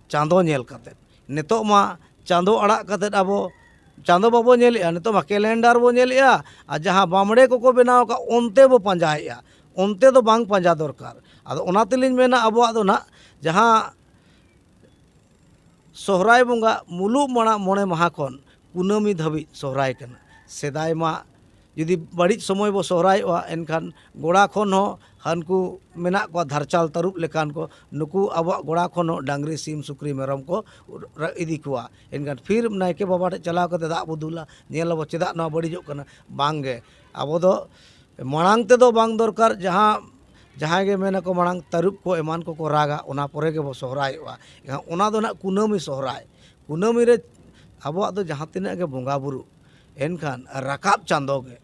ᱪᱟᱸᱫᱚ ᱧᱮᱞ ᱠᱟᱛᱮ ᱱᱤᱛᱚᱜ ᱢᱟ ᱪᱟᱸᱫᱚ ᱟᱲᱟᱜ ᱠᱟᱛᱮ ᱟᱵᱚ ᱪᱟᱸᱫᱚ ᱵᱟᱵᱚ ᱧᱮᱞᱮᱜᱼᱟ ᱱᱤᱛᱚᱜ ᱢᱟ ᱠᱮᱞᱮᱱᱰᱟᱨ ᱵᱚ ᱧᱮᱞᱮᱜᱼᱟ ᱟᱨ ᱡᱟᱦᱟᱸ ᱵᱟᱢᱲᱮ ᱠᱚᱠᱚ ᱵᱮᱱᱟᱣ ᱠᱟᱜ ᱚᱱᱛᱮ ᱵᱚ ᱯᱟᱸᱡᱟᱭᱮᱜᱼᱟ ᱚᱱᱛᱮ ᱫᱚ ᱵᱟᱝ ᱯᱟᱸᱡᱟ ᱫᱚᱨᱠᱟᱨ ᱟᱫᱚ ᱚᱱᱟ ᱛᱮᱞᱤᱧ ᱢᱮᱱᱟ ᱟᱵᱚᱣᱟᱜ ᱫᱚ ᱦᱟᱸᱜ ᱡᱟᱦᱟᱸ ᱥᱚᱦᱨᱟᱭ ᱵᱚᱸᱜᱟ ᱢᱩᱞᱩᱜ ᱢᱟᱲᱟᱜ ᱢᱚᱬᱮ ᱢᱟᱦᱟ ᱠᱷᱚᱱ ᱠᱩᱱᱟᱹᱢᱤ ᱫᱷᱟᱹᱵᱤᱡ ᱥᱚᱦᱨᱟᱭ ᱠᱟᱱᱟ ᱥᱮᱫᱟᱭ ᱢᱟ ᱡᱩᱫᱤ ᱵᱟᱹᱲᱤᱡ ᱥᱚᱢᱚᱭ ᱵᱚ ᱥᱚᱦᱨᱟᱭᱚᱜᱼᱟ ᱮᱱᱠᱷᱟᱱ ᱜᱚᱲᱟ ᱠᱷᱚᱱ ᱦᱚᱸ ᱦᱟᱹᱱᱠᱩ ᱢᱮᱱᱟᱜ ᱠᱚᱣᱟ ᱫᱷᱟᱨᱪᱟᱞ ᱛᱟᱹᱨᱩᱵ ᱞᱮᱠᱟᱱ ᱠᱚ ᱱᱩᱠᱩ ᱟᱵᱚᱣᱟᱜ ᱜᱚᱲᱟ ᱠᱷᱚᱱ ᱦᱚᱸ ᱰᱟᱝᱨᱤ ᱥᱤᱢ ᱥᱩᱠᱨᱤ ᱢᱮᱨᱚᱢ ᱠᱚ ᱤᱫᱤ ᱠᱚᱣᱟ ᱮᱱᱠᱷᱟᱱ ᱯᱷᱤᱨ ᱱᱟᱭᱠᱮ ᱵᱟᱵᱟ ᱴᱷᱮᱱ ᱪᱟᱞᱟᱣ ᱠᱟᱛᱮ ᱫᱟᱜ ᱵᱚ ᱫᱩᱞᱟ ᱧᱮᱞ ᱟᱵᱚ ᱪᱮᱫᱟᱜ ᱱᱚᱣᱟ ᱵᱟᱹᱲᱤᱡᱚᱜ ᱠᱟᱱᱟ ᱵᱟᱝᱜᱮ ᱟᱵᱚ ᱫᱚ ᱢᱟᱲᱟᱝ ᱛᱮᱫᱚ ᱵᱟᱝ ᱫᱚᱨᱠᱟᱨ ᱡᱟᱦᱟᱸ ᱡᱟᱦᱟᱸᱭ ᱜᱮ ᱢᱮᱱ ᱟᱠᱚ ᱢᱟᱲᱟᱝ ᱛᱟᱹᱨᱩᱵ ᱠᱚ ᱮᱢᱟᱱ ᱠᱚ ᱠᱚ ᱨᱟᱜᱟ ᱚᱱᱟ ᱯᱚᱨᱮ ᱜᱮᱵᱚ ᱥᱚᱦᱨᱟᱭᱚᱜᱼᱟ ᱮᱱᱠᱷᱟᱱ ᱚᱱᱟ ᱫᱚ ᱦᱟᱸᱜ ᱠᱩᱱᱟᱹᱢᱤ ᱥᱚᱦᱨᱟᱭ ᱠᱩᱱᱟᱹᱢᱤ ᱨᱮ ᱟᱵᱚᱣᱟᱜ ᱫᱚ ᱡᱟᱦᱟᱸ ᱛᱤᱱᱟᱹᱜ ᱜᱮ ᱵᱚᱸᱜᱟ ᱵᱳᱨᱳ ᱮᱱᱠᱷᱟᱱ ᱨᱟᱠᱟᱵ ᱪᱟᱸᱫᱳ ᱜᱮ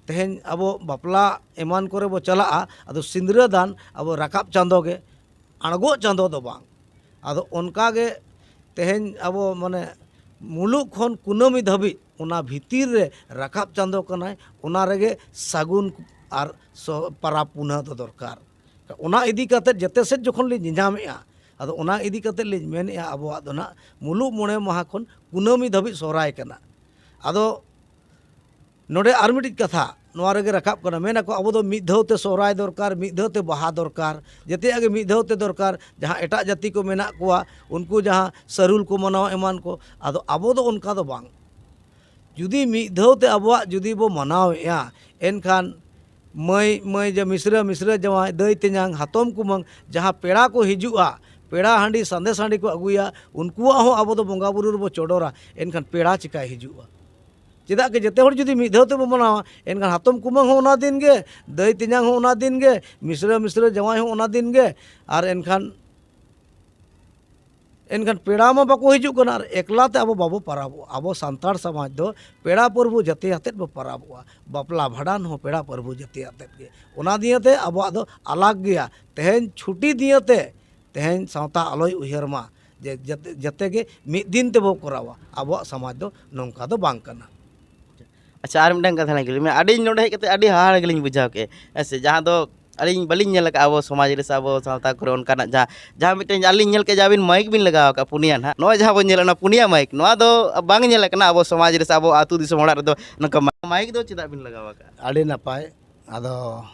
ᱛᱮᱦᱮᱧ ᱟᱵᱚ ᱵᱟᱯᱞᱟ ᱮᱢᱟᱱ ᱠᱚᱨᱮ ᱵᱚ ᱪᱟᱞᱟᱜᱼᱟ ᱟᱫᱚ ᱥᱤᱸᱫᱽᱨᱟᱹ ᱫᱟᱱ ᱟᱵᱚ ᱨᱟᱠᱟᱵ ᱪᱟᱸᱫᱳ ᱜᱮ ᱟᱬᱜᱚᱜ ᱪᱟᱸᱫᱳ ᱫᱚ ᱵᱟᱝ ᱟᱫᱚ ᱚᱱᱠᱟ ᱜᱮ ᱛᱮᱦᱮᱧ ᱟᱵᱚ ᱢᱟᱱᱮ ᱢᱩᱞᱩᱜ ᱠᱷᱚᱱ ᱠᱩᱱᱟᱹᱢᱤ ᱫᱷᱟᱹᱵᱤᱡ ᱚᱱᱟ ᱵᱷᱤᱛᱤᱨ ᱨᱮ ᱨᱟᱠᱟᱵ ᱪᱟᱸᱫᱚ ᱠᱟᱱᱟᱭ ᱚᱱᱟ ᱨᱮᱜᱮ ᱥᱟᱹᱜᱩᱱ ᱟᱨ ᱯᱟᱨᱟᱵᱽ ᱯᱩᱱᱟᱹ ᱫᱚ ᱫᱚᱨᱠᱟᱨ ᱚᱱᱟ ᱤᱫᱤ ᱠᱟᱛᱮ ᱡᱮᱛᱮ ᱥᱮᱫ ᱡᱚᱠᱷᱚᱱ ᱞᱤᱧ ᱧᱮᱧᱟᱢᱮᱜᱼᱟ ᱟᱫᱚ ᱚᱱᱟ ᱤᱫᱤ ᱠᱟᱛᱮ ᱞᱤᱧ ᱢᱮᱱᱮᱜᱼᱟ ᱟᱵᱚᱣᱟᱜ ᱫᱚ ᱱᱟᱜ ᱢᱩᱞᱩᱜ ᱢᱚᱬᱮ ᱢᱟᱦᱟ ᱠᱷᱚᱱ ᱠᱩᱱᱟᱹᱢᱤ ᱫᱷᱟᱹᱵᱤᱡ ᱥᱚᱦᱨᱟᱭ ᱠᱟᱱᱟ ᱟᱫᱚ ᱱᱚᱰᱮ ᱟᱨ ᱢᱤᱫᱴᱤᱡ ᱠᱟᱛᱷᱟ ᱱᱚᱣᱟ ᱨᱮᱜᱮ ᱨᱟᱠᱟᱵ ᱠᱟᱱᱟ ᱢᱮᱱ ᱟᱠᱚ ᱟᱵᱚ ᱫᱚ ᱢᱤᱫ ᱫᱷᱟᱣ ᱛᱮ ᱥᱚᱦᱨᱟᱭ ᱫᱚᱨᱠᱟᱨ ᱢᱤᱫ ᱫᱷᱟᱣ ᱛᱮ ᱵᱟᱦᱟ ᱫᱚᱨᱠᱟᱨ ᱡᱮᱛᱮᱭᱟᱜ ᱜᱮ ᱢᱤᱫ ᱫᱷᱟᱣ ᱛᱮ ᱫᱚᱨᱠᱟᱨ ᱡᱟᱦᱟᱸ ᱮᱴᱟᱜ ᱡᱟᱹᱛᱤ ᱠᱚ ᱢᱮᱱᱟᱜ ᱠᱚᱣᱟ ᱩᱱᱠᱩ ᱡᱟᱦᱟᱸ ᱥᱟᱹᱨᱩᱞ ᱠᱚ ᱢᱟᱱᱟᱣᱟ ᱮᱢᱟᱱ ᱠᱚ ᱟᱫᱚ ᱟᱵᱚ ᱫᱚ ᱚᱱᱠᱟ ᱫᱚ ᱵᱟᱝ ᱡᱩᱫᱤ ᱢᱤᱫ ᱫᱷᱟᱣ ᱛᱮ ᱟᱵᱚᱣᱟᱜ ᱡᱩᱫᱤ ᱵᱚ ᱢᱟᱱᱟᱣᱮᱜᱼᱟ ᱮᱱᱠᱷᱟᱱ ᱢᱟᱹᱭ ᱢᱟᱹᱭ ᱢᱤᱥᱨᱟ ᱢᱤᱥᱨᱟ ᱡᱟᱶᱟᱭ ᱫᱟᱹᱭ ᱛᱮᱧᱟᱝ ᱦᱟᱛᱚᱢ ᱠᱩᱢᱟᱹᱝ ᱡᱟᱦᱟᱸ ᱯᱮᱲᱟ ᱠᱚ ᱦᱤᱡᱩᱜᱼᱟ ᱯᱮᱲᱟ ᱦᱟᱺᱰᱤ ᱥᱟᱸᱫᱮᱥ ᱦᱟᱺᱰᱤ ᱠᱚ ᱟᱹᱜᱩᱭᱟ ᱩᱱᱠᱩᱣᱟᱜ ᱦᱚᱸ ᱟᱵᱚ ᱫᱚ ᱵᱚᱸᱜᱟ ᱵᱩᱨᱩ ᱨᱮᱵᱚ ᱪᱚᱰᱚᱨᱟ ᱮᱱᱠᱷᱟᱱ ᱯᱮᱲᱟ ᱪᱤᱠᱟᱹᱭ ᱦᱤᱡᱩᱜᱼᱟ ᱪᱮᱫᱟᱜ ᱜᱮ ᱡᱮᱛᱮ ᱦᱚᱲ ᱡᱩᱫᱤ ᱢᱤᱫ ᱫᱷᱟᱣ ᱛᱮᱵᱚ ᱢᱟᱱᱟᱣᱟ ᱮᱱᱠᱷᱟᱱ ᱦᱟᱛᱚᱢ ᱠᱩᱢᱟᱹᱝ ᱦᱚᱸ ᱚᱱᱟ ᱫᱤᱱ ᱜᱮ ᱫᱟᱹᱭ ᱛᱮᱧᱟᱝ ᱦᱚᱸ ᱚᱱᱟ ᱫᱤᱱ ᱜᱮ ᱢᱤᱥᱨᱟᱹ ᱢᱤᱥᱨᱟᱹ ᱡᱟᱶᱟᱭ ᱦᱚᱸ ᱚᱱᱟ ᱫᱤᱱ ᱜᱮ ᱟᱨ ᱮᱱᱠᱷᱟᱱ ᱮᱱᱠᱷᱟᱱ ᱯᱮᱲᱟ ᱢᱟ ᱵᱟᱠᱚ ᱦᱤᱡᱩᱜ ᱠᱟᱱᱟ ᱟᱨ ᱮᱠᱞᱟ ᱛᱮ ᱟᱵᱚ ᱵᱟᱵᱚ ᱯᱟᱨᱟᱵᱚᱜᱼᱟ ᱟᱵᱚ ᱥᱟᱱᱛᱟᱲ ᱥᱚᱢᱟᱡᱽ ᱫᱚ ᱯᱮᱲᱟ ᱯᱚᱨᱵᱷᱩ ᱡᱟᱛᱮ ᱟᱛᱮᱫ ᱵᱚ ᱯᱟᱨᱟᱵᱚᱜᱼᱟ ᱵᱟᱯᱞᱟ ᱵᱷᱟᱸᱰᱟᱱ ᱦᱚᱸ ᱯᱮᱲᱟ ᱯᱚᱨᱵᱷᱩ ᱡᱟᱛᱮ ᱟᱛᱮᱫ ᱜᱮ ᱚᱱᱟ ᱫᱤᱭᱮᱛᱮ ᱟᱵᱚᱣᱟᱜ ᱫᱚ ᱟᱞᱟᱜᱽ ᱜᱮᱭᱟ ᱛᱮᱦᱮᱧ ᱪᱷᱩᱴᱤ ᱫᱤᱭᱮᱛᱮ ᱛᱮᱦᱮᱧ ᱥᱟᱶᱛᱟ ᱟᱞᱚᱭ ᱩᱭᱦᱟᱹᱨ ᱢᱟ ᱡᱮ ᱡᱟᱛᱮ ᱡᱟᱛᱮ ᱜᱮ ᱢᱤᱫ ᱫᱤᱱ ᱛᱮᱵᱚ ᱠᱚᱨᱟᱣᱟ ᱟᱵᱚᱣᱟᱜ ᱥᱚᱢᱟᱡᱽ ᱫᱚ ᱱᱚᱝᱠᱟ ᱫᱚ ᱵᱟᱝ ᱠᱟᱱᱟ ᱟᱪᱪᱷᱟ ᱟᱨ ᱢᱤᱫᱴᱟᱝ ᱠᱟᱛᱷᱟ ᱞᱤᱧ ᱠᱩᱞᱤ ᱢᱮᱭᱟ ᱟᱹᱰᱤ ᱱᱚᱰᱮ ᱦᱮᱡ ᱠᱟᱛᱮ ᱟᱹᱰᱤ ᱦᱟᱦᱟᱲᱟ ᱜᱮᱞᱤᱧ ᱵᱩᱡᱷᱟᱹᱣ ᱠᱮᱫᱼᱟ ᱦᱮᱸ ᱥᱮ ᱡᱟᱦᱟᱸ ᱫᱚ ᱟᱹᱞᱤᱧ ᱵᱟᱹᱞᱤᱧ ᱧᱮᱞ ᱠᱟᱜᱼᱟ ᱟᱵᱚ ᱥᱚᱢᱟᱡᱽ ᱨᱮ ᱥᱮ ᱟᱵᱚ ᱥᱟᱶᱛᱟ ᱠᱚᱨᱮ ᱚᱱᱠᱟᱱᱟᱜ ᱡᱟᱦᱟᱸ ᱡᱟᱦᱟᱸ ᱢᱤᱫᱴᱮᱱ ᱟᱹᱞᱤᱧ ᱞᱤᱧ ᱧᱮᱞ ᱠᱮᱫᱼᱟ ᱟᱹᱵᱤᱱ ᱢᱟᱹᱭᱤᱠ ᱵᱤᱱ ᱞᱟᱜᱟᱣ ᱠᱟᱜᱼᱟ ᱯᱩᱱᱭᱟᱹ ᱦᱟᱸᱜ ᱱᱚᱜᱼᱚᱭ ᱡᱟᱦᱟᱸ ᱵᱚᱱ ᱧᱮᱞᱮᱫ ᱚᱱᱟ ᱯᱩᱱᱭᱟᱹ ᱢᱟᱹᱭᱤᱠ ᱱᱚᱣᱟ ᱫᱚ ᱵᱟᱝ ᱧᱮᱞ ᱠᱟᱱᱟ ᱟᱵᱚ ᱥᱚᱢᱟᱡᱽ ᱨᱮ ᱥᱮ ᱟᱵᱚ ᱟᱹᱛᱩ ᱫᱤᱥᱚᱢ ᱚᱲᱟᱜ ᱨᱮᱫᱚ ᱱᱚᱝᱠᱟ ᱢᱟᱹᱭᱤᱠ ᱫᱚ ᱪᱮᱫᱟᱜ ᱵᱤᱱ ᱞᱟᱜᱟᱣ ᱠᱟᱜᱼᱟ ᱟᱹᱰᱤ ᱱᱟᱯᱟᱭ ᱟᱫᱚ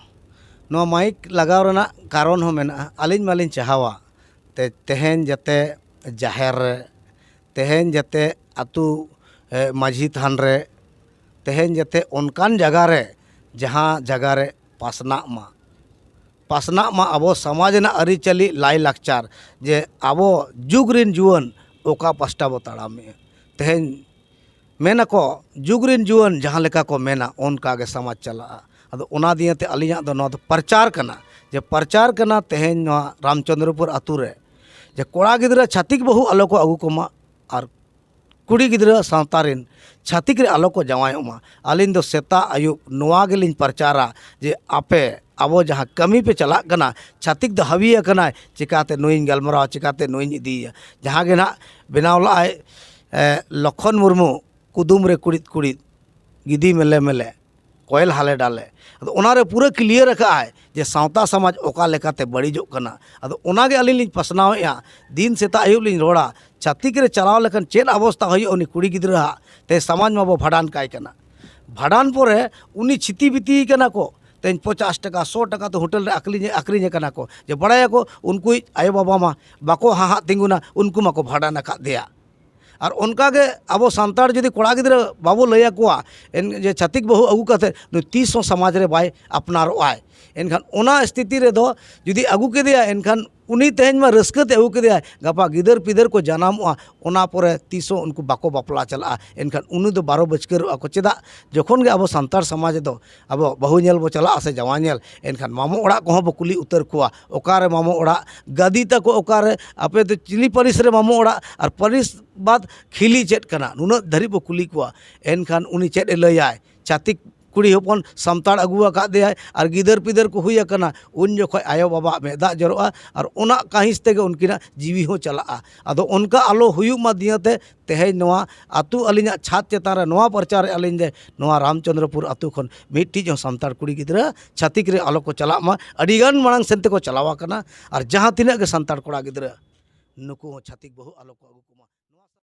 ᱱᱚᱣᱟ ᱢᱟᱹᱭᱤᱠ ᱞᱟᱜᱟᱣ ᱨᱮᱱᱟᱜ ᱠᱟᱨᱚᱱ ᱦᱚᱸ ᱢᱮᱱᱟᱜᱼᱟ ᱟᱹᱞᱤᱧ ᱢᱟᱹᱞᱤᱧ ᱪᱟᱦᱟᱣᱟ ᱛᱮᱦᱮᱧ ᱡᱟᱛᱮ ᱡᱟᱦᱮᱨ ᱨᱮ ᱛᱮᱦᱮᱧ ᱡᱟᱛᱮ ᱟᱹᱛᱩ ᱢᱟᱹᱡᱷᱤ ᱛᱷᱟᱱ ᱨᱮ ᱛᱮᱦᱮᱧ ᱡᱟᱛᱮ ᱚᱱᱠᱟᱱ ᱡᱟᱭᱜᱟ ᱨᱮ ᱡᱟᱦᱟᱸ ᱡᱟᱭᱜᱟ ᱨᱮ ᱯᱟᱥᱱᱟᱜ ᱢᱟ ᱯᱟᱥᱱᱟᱜ ᱢᱟ ᱟᱵᱚ ᱥᱚᱢᱟᱡᱽ ᱨᱮᱱᱟᱜ ᱟᱹᱨᱤᱪᱟᱹᱞᱤ ᱞᱟᱭᱼᱞᱟᱠᱪᱟᱨ ᱡᱮ ᱟᱵᱚ ᱡᱩᱜᱽ ᱨᱮᱱ ᱡᱩᱣᱟᱹᱱ ᱚᱠᱟ ᱯᱟᱥᱴᱟ ᱵᱚᱱ ᱛᱟᱲᱟᱢᱮᱜᱼᱟ ᱛᱮᱦᱮᱧ ᱢᱮᱱ ᱟᱠᱚ ᱡᱩᱜᱽ ᱨᱮᱱ ᱡᱩᱣᱟᱹᱱ ᱡᱟᱦᱟᱸ ᱞᱮᱠᱟ ᱠᱚ ᱢᱮᱱᱟ ᱚᱱᱠᱟ ᱜᱮ ᱥᱚᱢᱟᱡᱽ ᱪᱟᱞᱟᱜᱼᱟ ᱟᱫᱚ ᱚᱱᱟ ᱫᱤᱭᱮ ᱛᱮ ᱟᱹᱞᱤᱧᱟᱜ ᱫᱚ ᱱᱚᱣᱟ ᱫᱚ ᱯᱨᱚᱪᱟᱨ ᱠᱟᱱᱟ ᱡᱮ ᱯᱨᱚᱪᱟᱨ ᱠᱟᱱᱟ ᱛᱮᱦᱮᱧ ᱱᱚᱣᱟ ᱨᱟᱢᱪᱚᱱᱫᱨᱚᱯᱩᱨ ᱟᱹᱛᱩ ᱨᱮ ᱡᱮ ᱠᱚᱲᱟ ᱜᱤᱫᱽᱨᱟᱹ ᱪᱷᱟᱹᱛᱤᱠ ᱵᱟᱹᱦᱩ ᱟᱞᱚ ᱠᱚ ᱟᱹᱜᱩ ᱠᱚᱢᱟ ᱟᱨ ᱠᱩᱲᱤ ᱜᱤᱫᱽᱨᱟᱹ ᱥᱟᱶᱛᱟ ᱨᱮᱱ ᱪᱷᱟᱹᱛᱤᱠ ᱨᱮ ᱟᱞᱚ ᱠᱚ ᱡᱟᱶᱟᱭᱚᱜ ᱢᱟ ᱟᱹᱞᱤᱧ ᱫᱚ ᱥᱮᱛᱟᱜ ᱟᱹᱭᱩᱵ ᱱᱚᱣᱟ ᱜᱮᱞᱤᱧ ᱯᱨᱚᱪᱟᱨᱟ ᱡᱮ ᱟᱯᱮ ᱟᱵᱚ ᱡᱟᱦᱟᱸ ᱠᱟᱹᱢᱤ ᱯᱮ ᱪᱟᱞᱟᱜ ᱠᱟᱱᱟ ᱪᱷᱟᱹᱛᱤᱠ ᱫᱚ ᱦᱟᱹᱣᱤ ᱟᱠᱟᱱᱟᱭ ᱪᱤᱠᱟᱹᱛᱮ ᱱᱩᱭᱤᱧ ᱜᱟᱞᱢᱟᱨᱟᱣᱟ ᱪᱤᱠᱟᱹᱛᱮ ᱱᱩᱭᱤᱧ ᱤᱫᱤᱭᱮᱭᱟ ᱡᱟᱦᱟᱸ ᱜᱮ ᱱᱟᱦᱟᱜ ᱵᱮᱱᱟᱣ ᱞᱟᱜᱼᱟᱭ ᱞᱚᱠᱠᱷᱚᱱ ᱢᱩᱨᱢᱩ ᱠᱩᱫᱩᱢ ᱨᱮ ᱠᱩᱬᱤᱫ ᱠᱩᱬᱤᱫ ᱜᱤᱫᱤ ᱢᱮᱞᱮ ᱢᱮᱞᱮ ᱠᱚᱭᱮᱞ ᱦᱟᱞᱮ ᱰᱟᱞᱮ ᱟᱫᱚ ᱚᱱᱟᱨᱮ ᱯᱩᱨᱟᱹ ᱠᱞᱤᱭᱟᱨ ᱠᱟᱜ ᱟᱭ ᱡᱮ ᱥᱟᱶᱛᱟ ᱥᱚᱢᱟᱡᱽ ᱚᱠᱟ ᱞᱮᱠᱟᱛᱮ ᱵᱟᱹᱲᱤᱡᱚᱜ ᱠᱟᱱᱟ ᱟᱫᱚ ᱚᱱᱟᱜᱮ ᱟᱹᱞᱤᱧ ᱞᱤᱧ ᱯᱟᱥᱱᱟᱣ ᱮᱜᱼᱟ ᱫᱤᱱ ᱥᱮᱛᱟᱜ ᱟᱹᱭᱩᱵ ᱞᱤᱧ ᱨᱚᱲᱟ ᱪᱷᱟᱹᱛᱤᱠ ᱨᱮ ᱪᱟᱞᱟᱣ ᱞᱮᱠᱷᱟᱱ ᱪᱮᱫ ᱚᱵᱚᱥᱛᱷᱟ ᱦᱩᱭᱩᱜᱼᱟ ᱩᱱᱤ ᱠᱩᱲᱤ ᱜᱤᱫᱽᱨᱟᱹ ᱟᱜ ᱛᱮᱦᱮᱧ ᱥᱚᱢᱟᱡᱽ ᱢᱟᱵᱚᱱ ᱵᱷᱟᱸᱰᱟᱱ ᱠᱟᱭ ᱠᱟᱱᱟ ᱵᱷᱟᱸᱰᱟᱱ ᱯᱚᱨᱮ ᱩᱱᱤ ᱪᱷᱤᱛᱤ ᱵᱤᱛᱤ ᱠᱟᱱᱟ ᱠᱚ ᱛᱮᱦᱮᱧ ᱯᱚᱪᱟᱥ ᱴᱟᱠᱟ ᱥᱚ ᱴᱟᱠᱟ ᱛᱮ ᱦᱳᱴᱮᱞ ᱨᱮ ᱟᱠᱷᱨᱤᱧ ᱟᱠᱷᱨᱤᱧᱮ ᱠᱟᱱᱟ ᱠᱚ ᱡᱮ ᱵᱟᱲᱟᱭᱟᱠᱚ ᱩᱱᱠᱩᱭᱤᱡ ᱟᱭᱳ ᱵᱟᱵᱟ ᱢᱟ ᱵᱟᱠᱚ ᱦᱟᱦᱟᱜ ᱛᱤᱸᱜᱩᱱᱟ ᱩᱱᱠᱩ ᱢᱟᱠᱚ ᱵᱷᱟᱸᱰᱟᱱ ᱟᱠᱟᱫᱮᱭᱟ ᱟᱨ ᱚᱱᱠᱟᱜᱮ ᱟᱵᱚ ᱥᱟᱱᱛᱟᱲ ᱡᱩᱫᱤ ᱠᱚᱲᱟ ᱜᱤᱫᱽᱨᱟᱹ ᱵᱟᱵᱚ ᱞᱟᱹᱭ ᱟᱠᱚᱣᱟ ᱡᱮ ᱪᱷᱟᱹᱛᱤᱠ ᱵᱟᱹᱦᱩ ᱟᱹᱜᱩ ᱠᱟᱛᱮ ᱱᱩᱭ ᱛᱤᱥ ᱦᱚᱸ ᱥᱚᱢᱟᱡᱽ ᱨᱮ ᱵᱟᱭ ᱟᱯᱱᱟᱨᱚᱜᱼᱟᱭ ᱮᱱᱠᱷᱟᱱ ᱚᱱᱟ ᱥᱛᱷᱤᱛᱤ ᱨᱮᱫᱚ ᱡᱩᱫᱤ ᱟᱹᱜᱩ ᱠᱮᱫᱮᱭᱟᱭ ᱮᱱᱠᱷᱟᱱ ᱩᱱᱤ ᱛᱮᱦᱮᱧ ᱢᱟ ᱨᱟᱹᱥᱠᱟᱹ ᱛᱮ ᱟᱹᱜᱩ ᱠᱮᱫᱮᱭᱟᱭ ᱜᱟᱯᱟ ᱜᱤᱫᱟᱹᱨ ᱯᱤᱫᱟᱹᱨ ᱠᱚ ᱡᱟᱱᱟᱢᱚᱜᱼᱟ ᱚᱱᱟ ᱯᱚᱨᱮ ᱛᱤᱥ ᱦᱚᱸ ᱩᱱᱠᱩ ᱵᱟᱠᱚ ᱵᱟᱯᱞᱟ ᱪᱟᱞᱟᱜᱼᱟ ᱮᱱᱠᱷᱟᱱ ᱩᱱᱤ ᱫᱚ ᱵᱟᱨᱚ ᱵᱟᱹᱥᱠᱟᱹᱨᱚᱜᱼᱟ ᱠᱚ ᱪᱮᱫᱟᱜ ᱡᱚᱠᱷᱚᱱ ᱜᱮ ᱟᱵᱚ ᱥᱟᱱᱛᱟᱲ ᱥᱚᱢᱟᱡᱽ ᱨᱮᱫᱚ ᱟᱵᱚ ᱵᱟᱹᱦᱩ ᱧᱮᱞ ᱵᱚᱱ ᱪᱟᱞᱟᱜᱼᱟ ᱥᱮ ᱡᱟᱶᱟᱭ ᱧᱮᱞ ᱮᱱᱠᱷᱟᱱ ᱢᱟᱢᱚ ᱚᱲᱟᱜ ᱠᱚᱦᱚᱸ ᱵᱚᱱ ᱠᱩᱞᱤ ᱩᱛᱟᱹᱨ ᱠᱚᱣᱟ ᱚᱠᱟᱨᱮ ᱢᱟᱢᱚ ᱚᱲᱟᱜ ᱜᱟᱹᱫᱤ ᱛᱟᱠᱚ ᱚᱠᱟᱨᱮ ᱟᱯᱮ ᱫᱚ ᱪᱤᱞᱤ ᱯᱟᱹᱨᱤᱥ ᱨᱮ ᱢᱟᱢᱚ ᱚᱲᱟᱜ ᱟᱨ ᱯᱟᱹᱨᱤᱥ ᱵᱟᱫ ᱠᱷᱤᱞᱤ ᱪᱮᱫ ᱠᱟᱱᱟ ᱱᱩᱱᱟᱹᱜ ᱫᱷᱟᱹᱨᱤᱡ ᱵᱚᱱ ᱠᱩᱞᱤ ᱠᱚᱣᱟ ᱮᱱᱠᱷᱟᱱ ᱩᱱᱤ ᱪᱮᱫ ᱮ ᱞᱟᱹᱭᱟᱭ ᱪᱷᱟᱹᱛᱤᱠ ᱠᱩᱲᱤ ᱦᱚᱯᱚᱱ ᱥᱟᱱᱛᱟᱲ ᱟᱹᱜᱩ ᱟᱠᱟᱫᱮᱭᱟᱭ ᱟᱨ ᱜᱤᱫᱟᱹᱨ ᱯᱤᱫᱟᱹᱨ ᱠᱚ ᱦᱩᱭ ᱟᱠᱟᱱᱟ ᱩᱱ ᱡᱚᱠᱷᱚᱱ ᱟᱭᱳ ᱵᱟᱵᱟᱣᱟᱜ ᱢᱮᱫ ᱫᱟᱜ ᱡᱚᱨᱚᱜᱼᱟ ᱟᱨ ᱚᱱᱟ ᱠᱟᱺᱦᱤᱥ ᱛᱮᱜᱮ ᱩᱱᱠᱤᱱᱟᱜ ᱡᱤᱣᱤ ᱦᱚᱸ ᱪᱟᱞᱟᱜᱼᱟ ᱟᱫᱚ ᱚᱱᱠᱟ ᱟᱞᱚ ᱦᱩᱭᱩᱜ ᱢᱟ ᱫᱤᱭᱮᱛᱮ ᱛᱮᱦᱮᱧ ᱱᱚᱣᱟ ᱟᱹᱛᱩ ᱟᱹᱞᱤᱧᱟᱜ ᱪᱷᱟᱫᱽ ᱪᱮᱛᱟᱱ ᱨᱮ ᱱᱚᱣᱟ ᱯᱨᱚᱪᱟᱨ ᱮᱫᱼᱟ ᱞᱤᱧ ᱡᱮ ᱱᱚᱣᱟ ᱨᱟᱢᱪᱚᱱᱫᱨᱚᱯᱩᱨ ᱟᱹᱛᱩ ᱠᱷᱚᱱ ᱢᱤᱫᱴᱤᱡ ᱦᱚᱸ ᱥᱟᱱᱛᱟᱲ ᱠᱩᱲᱤ ᱜᱤᱫᱽᱨᱟᱹ ᱪᱷᱟᱹᱛᱤᱠ ᱨᱮ ᱟᱞᱚ ᱠᱚ ᱪᱟᱞᱟᱜ ᱢᱟ ᱟᱹᱰᱤ ᱜᱟᱱ ᱢᱟᱲᱟᱝ ᱥᱮᱫ ᱛᱮᱠᱚ ᱪᱟᱞᱟᱣ ᱟᱠᱟᱱᱟ ᱟᱨ ᱡᱟᱦᱟᱸ ᱛᱤᱱᱟᱹᱜ ᱜᱮ ᱥᱟᱱᱛᱟᱲ ᱠᱚᱲᱟ ᱜᱤᱫᱽᱨᱟᱹ ᱱᱩᱠᱩ ᱦᱚᱸ ᱪᱷᱟᱹᱛᱤᱠ ᱵᱟᱹᱦᱩ ᱟᱞᱚ ᱠᱚ ᱟᱹᱜᱩ ᱠᱚᱢᱟ